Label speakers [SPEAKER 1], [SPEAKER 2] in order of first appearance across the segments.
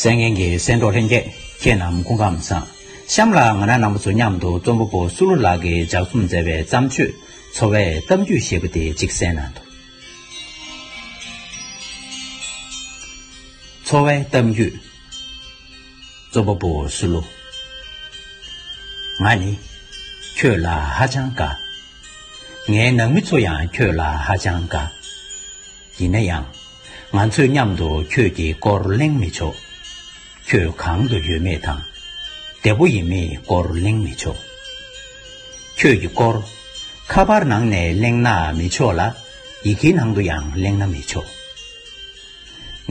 [SPEAKER 1] ཟས་ངན་གྱི་ཟས་མདོག་ལྷན་སྐྱེས་ཁྱེད་རྣམས་སྐུ་ཁམས་བཟང། གཤམ་ལ་ང་རང་ནང་པ་ཚོ་མཉམ་དུ་རྩོམ་པ་པོ་སུ་ལུ་ལགས་ཀྱིས་ལྗགས་རྩོམ་མཛད་པའི་བརྩམས་ཆོས་འཚོ་བའི་གཏམ་རྒྱུད་ཞེས་པ་དེ་གཅིག་གསན་གནང་འདུག། འཚོ་བའི་གཏམ་རྒྱུད། གཙོ་བོ་པོ་སུ་ལོ། ང་ནི་ཁྱོད་ལ་ཧ་ཅང་དགའ། ངའི་ནང་མི་ཚོ་ཡང་ཁྱོད་ལ་ཧ་ཅང་དགའ། ཡིན་ན་ཡང། ང་ཚོས་མཉམ་དུ་ཁྱོད་ཀྱི་སྐོར་གླེང་མི་ཆོག། ཁྱོད་གང་དུ་ཡོད་མེད་དང། བདེ་བོ་ཡིན་མེད་སྐོར་གླེང་མི་ཆོག། ཁྱོད་ཀྱི་སྐོར། ཁ་པར་ནང་ནས་གླེང་ན་མི་ཆོག་ལ། ཡི་གེའི་ནང་དུ་ཡང་གླེང་ན་མི་ཆོག།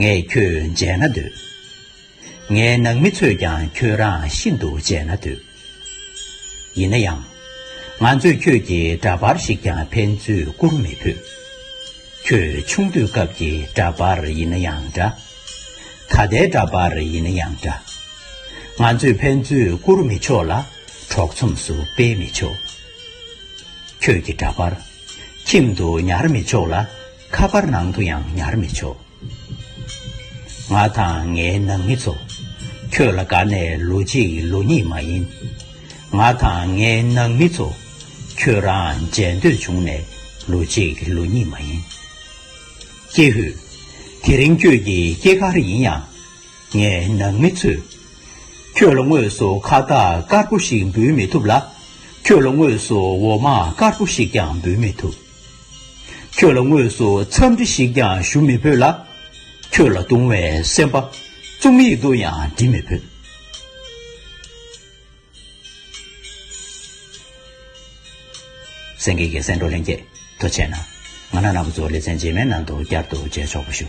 [SPEAKER 1] ངས་ཁྱོད་མཇལ་ན་འདོད། ངའི་ནང་མི་ཚོས་ཀྱང་ཁྱོད་རང་ཤིན་ཏུ་དཔྱད་ན་འདོད། ཡིན་ན་ཡང། ང་ཚོས་ཁྱོད་ཀྱི་འདྲ་པར་ཞིག་ཀྱང་ཕན་ཚུན་བསྐུར་མི་ཕོད། ཁྱོད་ཆུང་དུས་སྐབས་ཀྱི་འདྲ་པར་ཡིན་ན་ཡང་འདྲ། ད་ལྟའི་འདྲ་པར་ཡིན་ན་ཡང་འདྲ། ང་ཚོས་ཕན་ཚུན་བསྐུར་མི་ཆོག་ལ་གྲོགས་ཚོམས་སུ་སྤེལ་མི་ཆོག། ཁྱོད་ཀྱི་འདྲ་པར། ཁྱིམ་དུ་ཉར་མི་ཆོག་ལ། ཁ་པར་ནང་དུ་ཡང་ཉར་མི་ཆོག། ང་དང་ངའི་ནང་མི་ཚོ། ཁྱོད་ལ་དགའ་ནས་ལོ་གཅིག་ལོ་གཉིས་མ་ཡིན། ང་དང་ངའི་ནང་མི་ཚོ། ཁྱོད་རང་མཇལ་འདོད་བྱུང་ནས་ལོ་གཅིག་ལོ་གཉིས་མ་ཡིན། ཀྱེ་ཧུད། དེ་རིང་ཁྱོད་ཀྱི་སྐྱེས་སྐར་ཡིན་ཡང། ངའི་ནང་མི་ཚོས། ཁྱོད་ལ་དངོས་སུ་ཁ་བཏགས་དཀར་པོ་ཞིག་འབུལ་མི་ཐུབ་ལ། ཁྱོད་ལ་དངོས་སུ་འོ་མ་དཀར་པོ་ཞིག་ཀྱང་འབུལ་མི་ཐུབ། ཁྱོད་ལ་དངོས་སུ་འཚམས་འདྲི་ཞིག་ཀྱང་ཞུ་མི་ཕོད་ལ། ཁྱོད་ལ་དུང་བའི་སེམས་པ་རྩོམ་ཡིག་ཏུ་ཡང་འབྲི་མི་ཕོད། སེང་གེ་ཀྱི་སེང་འབྲོག་ལྷན་རྒྱས་དུ་བྱས་ན། ང་ནག་ནག་པོ་ཚོ་ལེ་ཚན་རྗེས་མའི་ནང་དུ་བསྐྱར་དུ་མཇལ་ཆོག་པ་ཞུ།